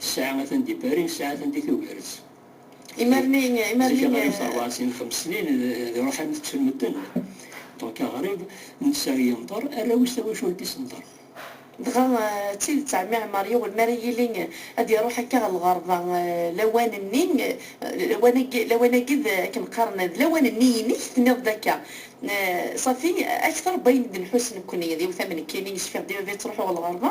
Tesɛa atan di Paris, nesɛa atan di Tubiret. Imarni, imarni. Zik aɣrib terbaɛ sin xems snin d iruḥan tettun medden. Donc aɣrib n sser yenṭer, arraw-is tawacult-is tenṭer. Dɣa d tidet ɛemmi Ɛmar yiwen mi ara yili ad iruḥ akka ɣer lɣerba lawan-nni, lawan-agi, lawan-agi d akken qqaren d lawan-nni-inek, tenniḍ-d akka. Safi akter n wayen d-nḥuss nekkni d iwtamen-nni, yecfiɣ-d i baba yettruḥu ɣer lɣerba,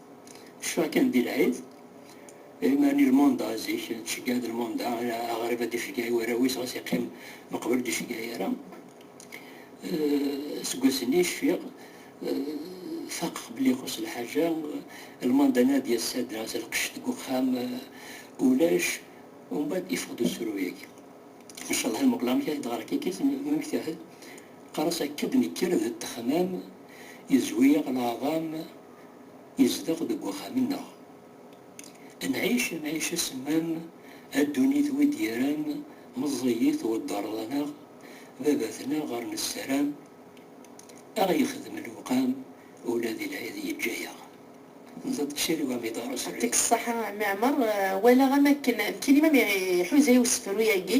Ccfeɣ kan di lɛid, imarni lmunda zik tceggeɛ-d lmunda, ala aɣrib ad iceggeɛ i warraw-is ɣas yeqqim meqbel ur d-iceggeɛ ara. Aseggas-nni cfiɣ, faqeɣ belli ixuṣṣ lḥaǧa, lmunda nnan ad d-yas ad d-nɣes lqecc deg uxxam, ulac, umbeɛd iffeɣ-d usefru-yagi. Ncallah ad muqleɣ amek ara d-ɣreɣ kikit, mmektahed, qqar-as akka d-nekker d ddexmam, yezwi-yaɣ leɛḍam, izdeɣ deg uxxam-nneɣ. Nɛic amɛic asemmam, a ddunit wi d-yerran meẓẓiyi tweddeṛeḍ anaɣ, baba-tneɣ ɣer nessaram a ɣ-yexdem lewqam ula di lɛid yeǧǧa-yaɣ d ṭṭsil wa mi d-aṛ srid. Ṭṭik ṣṣeḥa a mmi Ɛmer, walaɣ am akken nekkini ma mi iḥuza i usefru-yagi.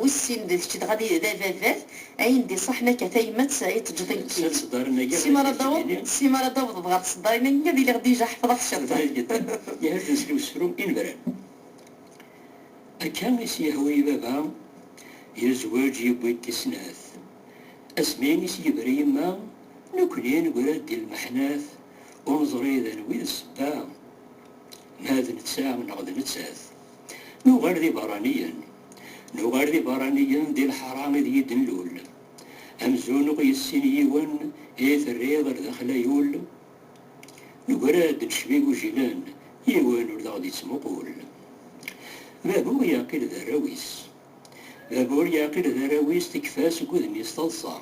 Wessin d kečč dɣa d ababat, ayen d-iṣaḥen akka tayemmat i tt-ǧǧet nekkit. Si m'ara d-taweḍ, si m'ara d-tawḍeḍ ɣer tseddarin agi ad iliɣ dija ḥefḍeɣ ciṭ. Bɣiɣ jeddi ihedden-s i usefru inebran. Akka i s-yehwa i baba, yezweǧ yewwi-d tisnat. Asmi i s-yebra yemma, nekkni negra-d di lmeḥnat, ur neẓri d anwi i d ssebba, ma d netta neɣ d nettat. Nuɣal d iberraniyen. Nuɣal d iberraniyen di leḥra id yi-d-nlul. Amzun ur yessin yiwen i t-rriɣ ar daxel ayul. Negra-d necba igujilen, yiwen ur d-aɣ-d-ittmuqul. Babur yeɛqil d arraw-is. Babur yeɛqil d arraw-is tekfa seg udem-is taḍsa.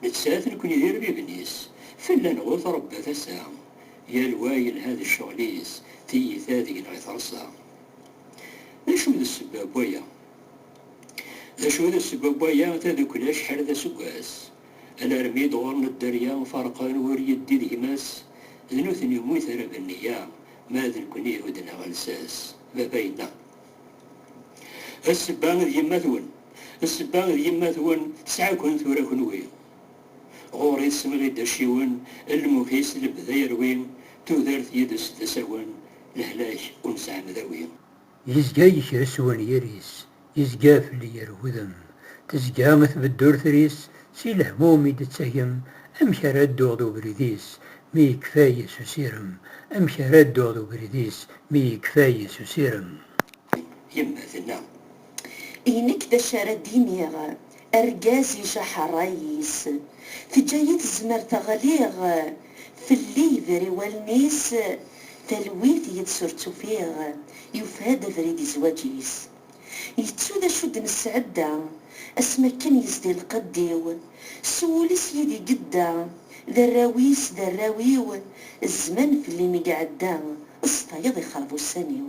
Nettat nekni d irbiben-is, fell-aneɣ ur trebba tasa. Yal wa yelha d ccɣel-is, tiyita deg-neɣ i terṣa. D acu d ssebba n waya? D acu d ssebba n waya? Tadukli acḥal d aseggas, alarmi d-ɣur-n dderya, ferqen wur yeddi d gma-s, d nutni umi terra d nniya, ma d nekni ihudden-aɣ lsas, baba yenna. Ssebba d yemma-twen, ssebba d yemma-twen tesɛa-ken tura kenwi. Ɣur-i swiɣ-id acciwen, lmuh-is lebda yerwi, tudert yid-s d asawen, lehlak ur nesɛi amdawi. Yezga yekres wenyir-is, yezga fell-i yer wudem, tezga tbeddurter-is, si lehmum i d-tettagem, amek ara dduɣ d ubrid-is, mi yekfay s usirem, amek ara dduɣ d ubrid-is, mi yekfay s usirem. Yemma tenna, I nekk d acu ara d-iniɣ, argaz ijaḥ rray-is, teǧǧa-yi tezmert ɣliɣ, fell-i yebri wallen-is, talwit yid-s ur tt-ufiɣ, yufa-d abrid i zwaǧ-is. Yettu d acu d-nesɛedda, asmi akken yezdi lqedd-iw, s wul-is yid-i gedda, d arraw-is d arraw-iw, zzman fell-i mi iɛedda, s tayeḍ ixreb ussan-iw.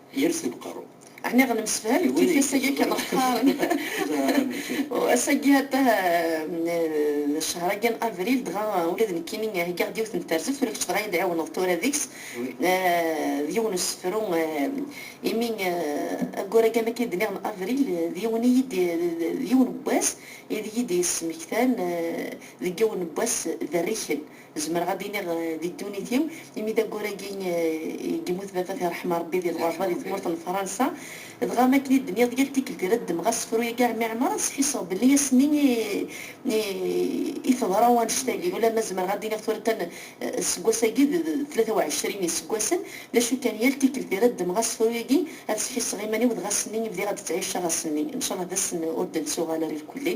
Yers deg uqerru. Ɛni ɣ nemsefham d tifi-s agi kan ɣ qqaren? U ass-agi atah d ccehr-agi n avril, dɣa ula d nekkini heggaɣ-d yiwet n terzeft, ula kečč dɣa iyi-d ɛiwneḍ tura deg-s, d yiwen usefru, imi ayyur-agi am akken i d-nniɣ n avril, d yiwen i yi-d, d yiwen n wass i d iyi-d-yesmektan deg yiwen n wass d rrikel. Zemreɣ ad d-iniɣ di ddunit-iw, imi d ayyur-agi i yemmut baba-t iṛeḥma Ṛebbi di lɣerba di tmurt n Fṛansa, dɣa am akken i d-nniɣ yal tikkelt i ara ddmeɣ asefru-agi ɛemmi Ɛmer ad sḥisseɣ belli ass-nni i teḍra wanect-agi, ulamma zemreɣ ad d-iniɣ tura kan seg wass-agi d tlata u ɛecrin iseggasen, d acu kan yal tikkelt i ara ddmeɣ asefru-agi ad sḥisseɣ iman-iw dɣa ass-nni i bdiɣ ad d-ttɛiceɣ ass-nni, ncalleh d ass-n ur d-nettuɣal ara irkelli.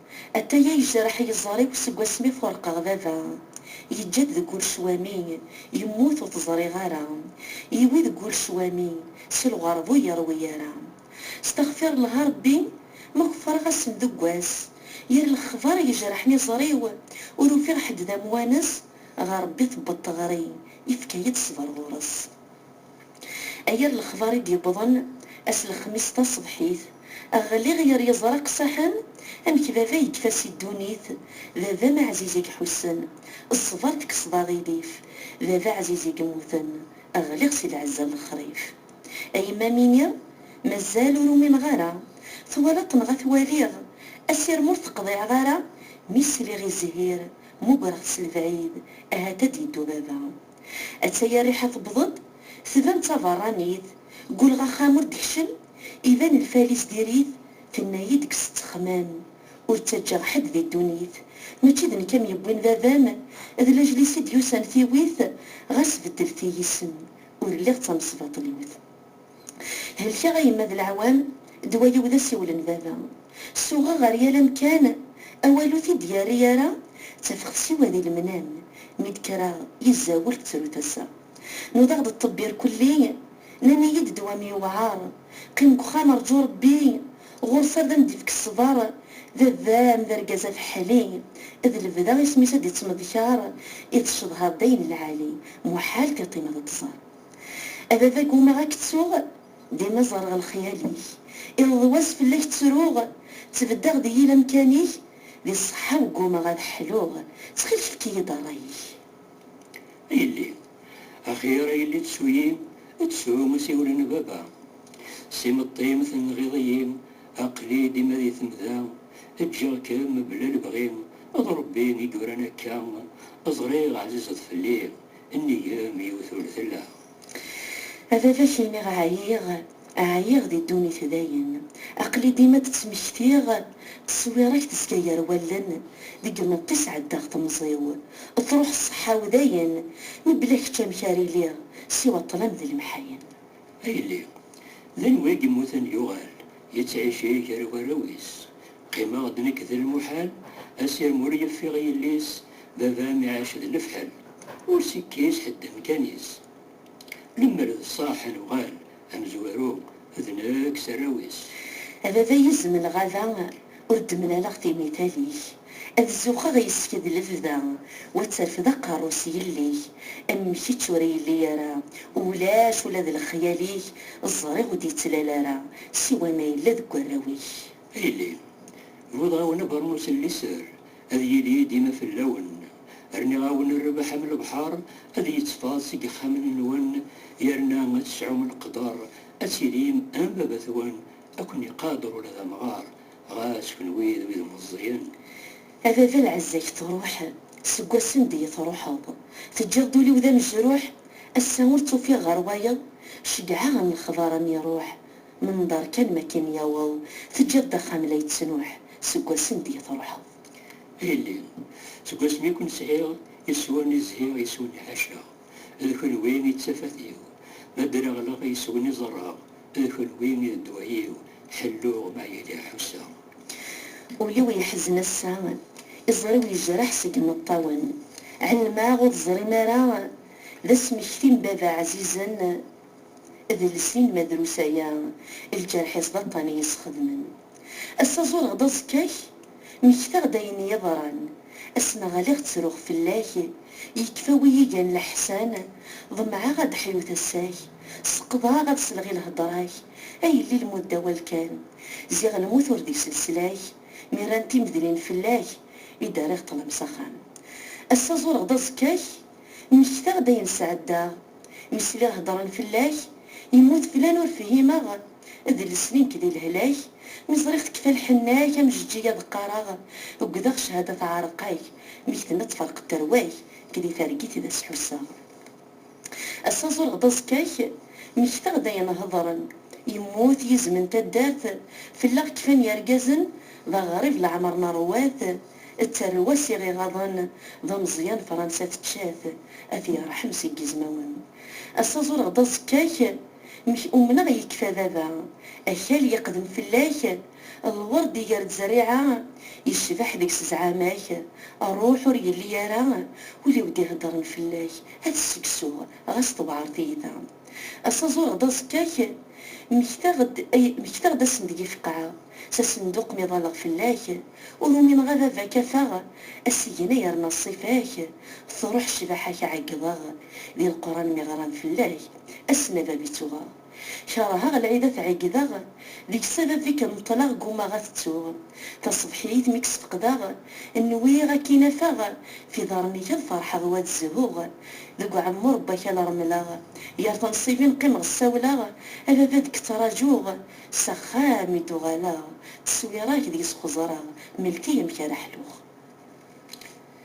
Ataya yejreḥ yiẓẓar-iw seg wasmi fureqeɣ baba. Yeǧǧa-d deg ul cwami, yemmut ur t-ẓriɣ ara. Yiwi deg ul cwami, si lɣerba ur yeṛwi ara. Stexfirellah a Ṛebbi, ma kefṛeɣ ass-n deg wass, yir lexbaṛ yejreḥen iẓẓar-iw, ur ufiɣ ḥedd d amwanes, ɣer Ṛebbi tewweḍ teɣri, yefka-yi-d ṣṣbeṛ ɣur-s. Aya n lexbar i d-yewwḍen ass lexmis taṣebḥit, ɣliɣ yer yeẓraq s axxam, amek baba yekfa si ddunit, baba-m aɛziz i iḥussen, ṣṣber tekkseḍ aɣilif, baba ɛziz i yemmuten, ɣliɣ si lɛezza n lexrif. A yemma mini, mazal ur umineɣ ara, twalaḍ-t neɣ ad t-waliɣ, asirem ur t-qḍiɛeḍ ara, mi sliɣ i zzhir, mugreɣ-t s lebɛid, ahat ad d-yeddu baba. Atta-ya rriḥa tewweḍ-d, tban d taberranit, gulleɣ axxam ur d-tekcem, iban lfal-is diri-t, tenna-yi-d kkes ttexmam, ur ttaǧǧaɣ ḥedd di ddunit, mačči d nekk am yewwin baba-m, d lajel-is i d-yusan tiwit, ɣas beddlet-iyi isem, ur lliɣ d tamesbaṭliwt. Helkeɣ a yemma d leɛwam, ddwa-iw d asiwel n baba. Suɣeɣ ɣer yal amkan, awal ur t-id-yerri ara, ttafeɣ s siwa di lemnam, mi d-kkreɣ yezza ur tettru tasa. Nudaɣ-d ṭṭebbi irkelli, nnan-iyi-d ddwa-m yewɛer, qqim deg uxxam rǧu Rebbi, ɣur-s ar d am-d-ifk ṣṣber, baba-m d argaz afeḥli, d lebda isem-is ad d-ittmeḍkar, i tcedhaḍ d ayen lɛali, muḥal tiṭ-im ad t-tẓer. A baba ggumaɣ a k-ttuɣ Dima ẓerreɣ lexyal-ik Iḍ d wass fell-ak ttruɣ Ttbeddeɣ di yil amkan-ik Di ṣṣeḥḥa-w ggumaɣ ad ḥluɣ Ttxil-k efk-iyi-d ṛṛay-ik A yelli axir a yelli ttu-yi Ttu asiwel n baba S imeṭṭi-m tenɣiḍ-iyi Aql-i dima di temda Ǧǧiɣ-kem bla lebɣi D Ṛebbi i yuran akka Ẓriɣ ɛzized fell-i Nnig m yiwet ur tella. A baba k-iniɣ ɛyiɣ, ɛyiɣ di ddunit dayen, aql-i dima d-ttmektiɣ, ttṣewwireɣ-k tezga gar wallen, deg imeṭṭi sɛeddaɣ temẓi-w, truḥ ṣṣeḥḥa-w dayen, mebla kečč amek ara iliɣ, siwa ṭṭlam d lemḥayen. A yelli! D anwa i yemmuten yuɣal yettɛici gar warraw-is? Qqimeɣ-d nekk d lmuḥal, asirem ur yeffiɣ i yelli-s, baba-m iɛac d lefḥel, ur s-ikkis ḥedd amkan-is. Lemmer d ṣṣaḥ ad nuɣal amezwaru, d nekk s arraw-is. A baba yizem n lɣaba! Ur d-mlaleɣ timital-ik. Ad zuxxeɣ yes-k d lebda, u ad terfed aqerru-s yell-ik. Am kečč ur yelli ara, ulac ula d lexyal-ik, ẓriɣ ur d-yettlal ara, siwa ma yella deg warraw-ik. A yelli, bɣiḍ-ɣ-awen abeṛnus n liser, ad yili dima fell-awen. Rniɣ-awen rrbeḥ am lebḥer, ad yettfaḍ seg yexxamen-nwen, yerna ad tesɛum leqder ad tilim am baba-twen Ad ken-iqader ula d amɣar, ɣas kenwi d wid meẓẓiyen. A baba lɛezza-k truḥ, seg wassen d-iyi truḥeḍ, teǧǧiḍ-d ul-iw d amejruḥ, ass-a ur tt-ufiɣ ɣer wayeḍ, ceggɛeɣ am lexbar am iruḥ, menḍer kan makin yaweḍ, teǧǧiḍ-d axxam la yettnuḥ, seg wassen d-iyi truḥeḍ. Ilelli, seg wasmi i ken-sɛiɣ, iswan i zhiɣ, iswi-nni ḥaceɣ. D kunwi i d tafat-iw. Ma dreɣleɣ yes-wen i ẓerreɣ, D kunwi i d ddwa-iw. Ḥelluɣ ma yella ḥusseɣ. Ul-iw yeḥzen ass-a, Iẓri-w yejreḥ seg imeṭṭawen. Ɛelmeɣ ur teẓrim ara, D asmekti n baba ɛzizen, D llesni n ma drus aya, Lǧerḥ-is d aṭṭan i yi-sxedmen. Ass-a ẓureɣ-d aẓekka-k, Mmektaɣ-d ayen i yeḍran. Ass ma ɣliɣ ttruɣ fell-ak, Yekfa wi igan leḥsan. Ḍemɛeɣ ad d-ḥyut ass-ak, Seqḍeɣ ad selɣ i lhedra-k. A yelli lmudda awal kan, Ziɣ lmut ur d-iselslak. Mi rran timedlin fell-ak, I d-rriɣ ṭṭlam s axxam. Ass-a ẓureɣ-d aẓekka-k, Mmektaɣ-d ayen sɛeddaɣ. Mi sliɣ heddren fell-ak, Yemmut flan ur fhimeɣ. D lesni nekk di lehlak Mi ẓriɣ tekfa lḥenna-k Am Jeǧǧiga ad qqareɣ Ugdeɣ cehada teɛreq-ak Mi k-tenna tferq tterwa-k Nekk di targit d as-ḥusseɣ Ass-a ẓureɣ-d aẓekka-k Mmektaɣ-d ayen hedren Yemmut yizem n taddart Fell-aɣ kfan yergazen D aɣrib leɛmer neṛwa-t D tarwa-s i ɣ-iɣaḍen D ameẓyan Fransa tečča-t A t-yerḥem seg yizmawen Ass-a ẓureɣ-d aẓekka-k Mek umneɣ yekfa baba. Akal yeqdem fell-ak, lwerd iger-d zzerriɛa, yecbeḥ deg-s zzɛama-k, rruḥ ur yelli ara, ul-iw d-iheddren fell-ak, ad t-sseksuɣ ɣas tewɛer tiyta. Ass-a ẓureɣ-d aẓekka-k, mmektaɣ-d ay mmektaɣ-d ass-n deg-i feqqɛeɣ, s asenduq mi ḍalleɣ fell-ak, ur umineɣ a baba kafaɣ, asigna yerna ṣṣifa-k, truḥ ccbaḥa-k ɛeggḍeɣ di leqran mi ɣran fell-ak, Ass n abab i ttuɣeɣ. Keṛheɣ lɛid ad t-ɛeggdeɣ. Deg-s abab mi k-neṭleɣ ggummaɣ ad t-ttuɣ. Taṣebḥiyit mi k-sfeqdeɣ. Nwiɣ ad k-in-afeɣ. F iḍarren-ik ad ferḥeɣ wa d zzhuɣ. Deg uɛemmuṛ n wakal remleɣ. Gar tenṣibin qqimeɣ ssawleɣ. A baba ad k-ttraǧuɣ. S axxam i d-uɣaleɣ. Tteswiṛa-k deg-s xeẓreɣ. Melk-iyi amek ara ḥluɣ.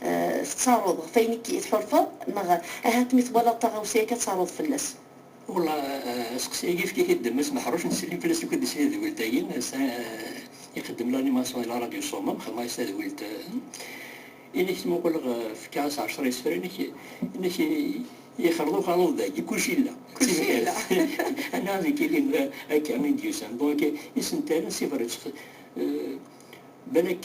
Tettaruḍ ɣef wayen i k-tḥulfaḍ neɣ ahat mi twalaḍ taɣawsa akka ttaruḍ fell-as? Wella, asteqsi-agi efk-it-id d Mass Meḥruc n Slim fell-as akk-d s tedwilt-agi, ass-a ixeddem l'animation i la radio Somme, xedmeɣ-as tadwilt i nekk, tmuquleɣ fkiɣ-as ɛecra isefra i nekk, i nekk yexreḍ uxaluḍ dagi, kulci yella, kulci yella, anna ad nekk ilin akka i d-yusan, bon akka isental, s ibreţ, balak.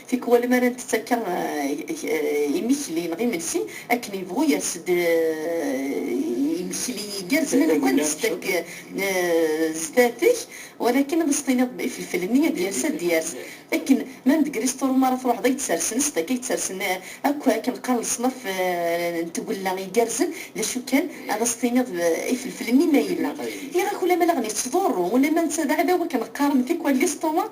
Tikwal mi ara ntett akka imekli neɣ imensi akken yebɣu yers-d imekli igerrzen amek ara ntett akka zdat-k, walakin ɣas tiniḍ ifelfel-nni ad yers ad yers akken ma deg restaurant mi ara truḥeḍ ay d-sersen sdat-k ay d-sersen akk akken qqaren leṣnaf n tgella igerrzen d acu kan ɣas tiniḍ ifelfel-nni ma yella iɣ-ak ulamma daɣen yettḍurru ulamma netta d aɛdaw akken qqaren tikwal lestomac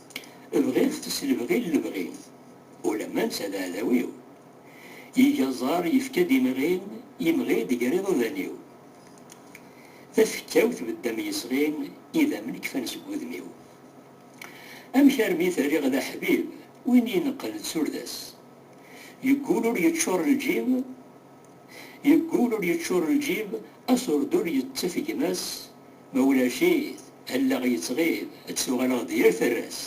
Bɣiɣ-t s lebɣi n lebɣi-t, ulamma netta d aɛdaw-iw. Yeg aẓar, yefka-d imɣi, yemɣi-d gar iḍudan-iw. Tafekka-w tbedda am yesɣi, idammen kfan seg wudem-iw. Amek armi t-rriɣ d aḥbib, win ineqqen d turda-s? Yeggul ur yeččur lǧib, Yeggul ur yeččur lǧib, asurdun yettaf gma-s, Ma ulac-it, allaɣ yettɣib, ad d-tuɣaleɣ d yir tarra-s.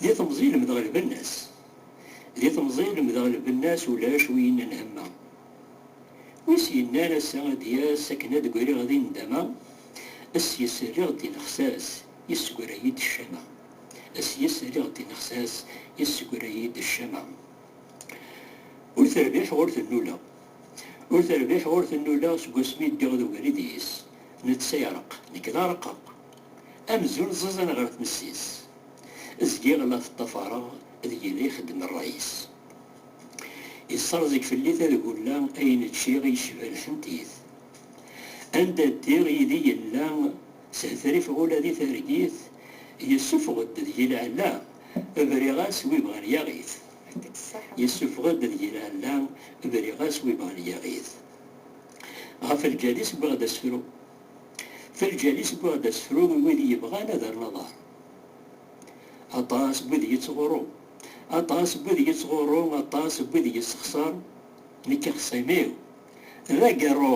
Di temẓi lemdeɣ lbenna-s. Di temẓi lemdeɣ lbenna-s ulac wi yennan hemma. Wi s-yennan ass-a ad d-yas akken ad d-griɣ di nndama, s-yes rriɣ d-inexs-as, yessegra-yi-d ccama. S-yes rriɣ d-inexs-as, yessegra-yi-d ccama. Ur terbiḥeɣ ur tennuleɣ. Ur terbiḥ ur tennuleɣ seg wasmi ddiɣ d ubrid yis. Netta ireqq, nekk d areqqeq. Amzun ẓẓiẓin ɣer tmessi-s. Zgiɣ la t-ṭṭafareɣ d yili ixeddem rray-is. Yesserẓeg fell-i tadgulla ayen ččiɣ yecba lḥent-it. Anda ddiɣ yid-i yella s hetrif ula di targit yessufeɣ-d deg-i lɛella, briɣ-as wi bɣan yaɣ-it. Yessufeɣ-d ad yili alla, briɣ-as wi bɣan yaɣ-it. Ɣef lǧal-is wwiɣ-d asefru. F lǧal-is wwiɣ-d asefru n wid yebɣan ad rren aḍar. Aṭas n wid yettɣurru, aṭas n wid yettɣurru, aṭas n wid yessexṣer, nekk axṣim-iw d agerru.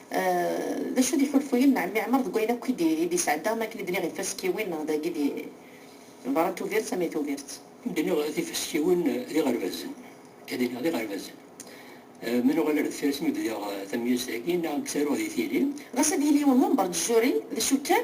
D acu d iḥulfuyen n ɛemmi Ɛmer deg wayen akk i d-yesɛedda am wakken i d-nniɣ ifaskiwin neɣ dagi di berra n Tubiret am i Tubiret? I d-nniɣ ifaskiwin d iɣerbazen, i d-nniɣ d iɣerbazen. Ma nuɣal ar deffir-as mi bdiɣ tamyust-agi neɣ mi ttaruɣ di tili, ɣas ad yili yiwen wember d Juri d acu kan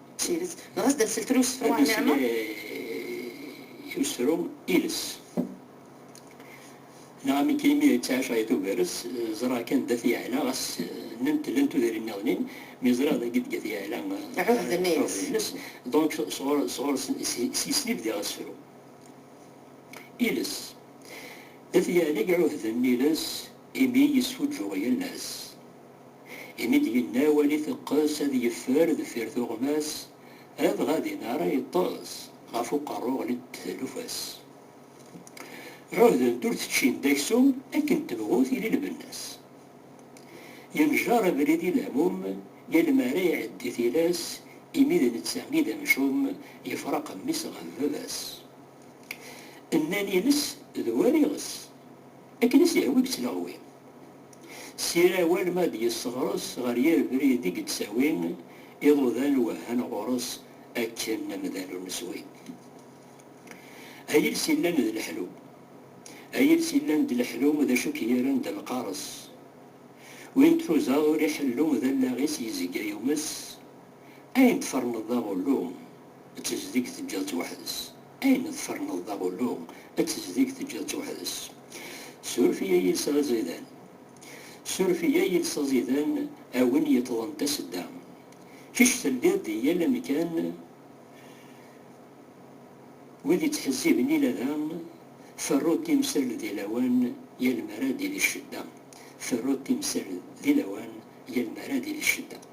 Tidet, dɣa sdat seltel usefru ɛen niɛma. Ad nesli i usefru iles. Neɣ amek imi d taɛecṛa i tugar-s, ẓṛaɣ kan d At Yeɛla, ɣas nnant llan tudrin niḍen-in, mi ẓṛiɣ d agi d At Yeɛla ɛuhden-ines, donc sɣur-s s-yes i bdiɣ asefru. Iles. D At Yeɛla i iɛuhden iles imi yesfuǧǧuɣ yal ass. imi d-yenna wali iteqqes ad yeffer deffir tuɣmas, adɣa din ara yeṭṭes ɣef uqerru ɣlint-d talufa-s. Ɛuhdent ur teččint d aksum akken tebɣut yili lbenna-s. Yenjer abrid i lehmum yal mi ara iɛeddi tilas imi d netta i d amcum yefraqen mmi-s ɣef baba-s. Nnan iles d war iɣes. Akken i s-yehwa i yettleɣwi. Sira war ma ad yesseɣres ɣer yir brid i yettawi, iḍudan wehhan ɣur-s akken amdan ur neswi. A yiles yellan d leḥlu. A yiles yellan d leḥlu d acu k-yerran d lqares. Win truzaḍ ur iḥellu d allaɣ-is yezga yumes, ayen tferneḍ d aɣullu d tezdeg teǧǧiḍ-tt weḥd-s. Ayen tferneḍ d aɣullu, ad tezdig teǧǧiḍ-tt weḥd-s. Suref-iyi a yiles aẓidan. Suref-iyi a yiles aẓidan a win yeṭṭḍen tasedda. Kečč telliḍ di yal amkan, wid ittḥezziben ila da, ferru timsal di lawan yal mi ara d-ilis ccedda. Ferru timsal di lawan yal mi ara d-ilis ccedda.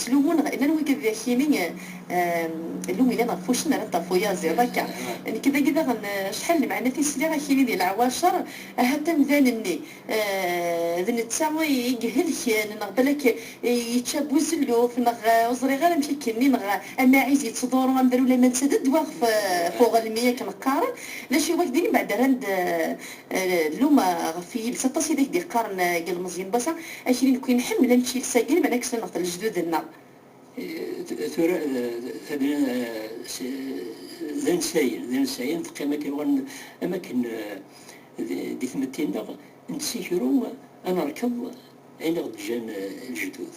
Ttlumun ɣ iman-nwen ked akini llum yellan ɣef wuccen ara d-taf uyaziḍ akka. Nekk dagi daɣen acḥal n lmeɛnat i sliɣ akini di leɛwacer ahat amdan-nni d netta i ihelken neɣ balak yečča bu zelluf neɣ ur ẓriɣ ara amek i k-nni neɣ amaɛiz yettḍuru amdan ulayma netta d ddwa ɣef uɣelmi akken qqaren d acu i wak-d-innin baɛd ara Luma ɣef yiles aṭas i d ak-d-yeqqaren yelmeẓyen n wass-a, akli nekk i nḥemmel ad nečč iles-agi, lameɛna kksen neɣ ɣef lejdud-nneɣ. Tura d ansayen, d ansayen, teqqim akken war am akken di tmetti-nneɣ, nettikru ad nerkeḍ ayen i ɣ-d-ǧǧan lejdud.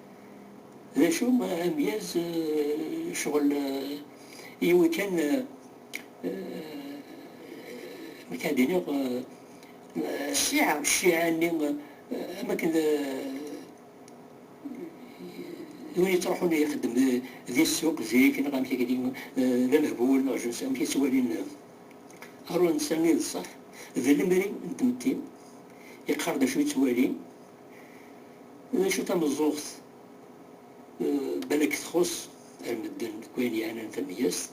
D acu amedyaz ccɣel yiwi kan nek ad iniɣ cciɛa cciɛa nni am akken d win yettruḥun ixeddem di ssuq zik neɣ amek akk-agi d amehbul neɣ je ne sais amek i ttwalin aru netta i d ṣṣeḥ d lemri n tmetti yeqqar-d acu yettwali. D acu tameẓẓuɣt? Balak txuṣṣ ar medden deg wayen yeɛnan tameyyazt.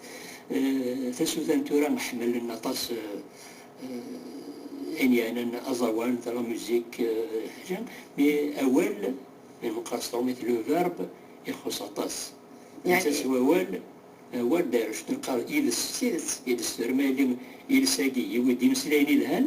Tasuta tura ḥemmlen aṭas ayen yeɛnan aẓawan, de la musique, ḥaca mi awal mi neqqar s tṛumit le verbe ixuṣṣ aṭas. Netta s wawal, awal d arec, neqqar iles s tidet, iles tura ma yelli iles-agi yewwi-d imeslayen yelhan,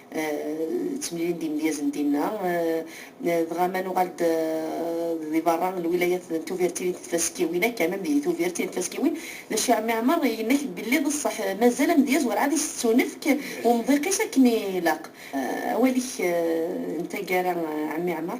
Ttemlilin-d imedyazen dinna. Dɣa ma nuɣal-d di berra n lwilayat n Tuvirtin d Tfaskiwin akka, mem di Tuvirtin d Tfaskiwin, d acu i Ɛemmi Ɛmer yenna-k-d belli d ṣṣeḥ mazal amedyaz werɛad isettunefk umḍiq-is akken ilaq. Awal-ik n taggara a Ɛemmi Ɛmer?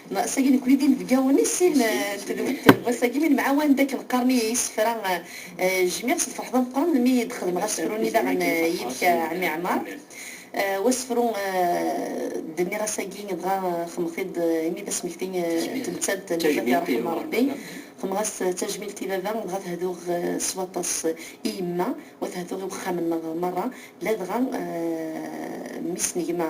Sagi nekkni d inebgawen i sin n tedwilt n wass-agi, mi nemɛawan-d akken qqaren-iyi yisefra, jmiɣ s lferḥ d ameqqran mi d-xedmeɣ asefru-nni daɣen yid-k a Ɛemmi Ɛmar. Wasefru d-nniɣ ass-agi dɣa xemmeɣ-t-id imi d asmekti n tmettant n baba-k iṛṛeḥ-m Ṛebbi. Xemmeɣ-as tajmilt i baba dɣa tehduɣ s waṭas i yemma wa tehduɣ i wexxam-nneɣ meṛṛa ladɣa mmi-s n gma.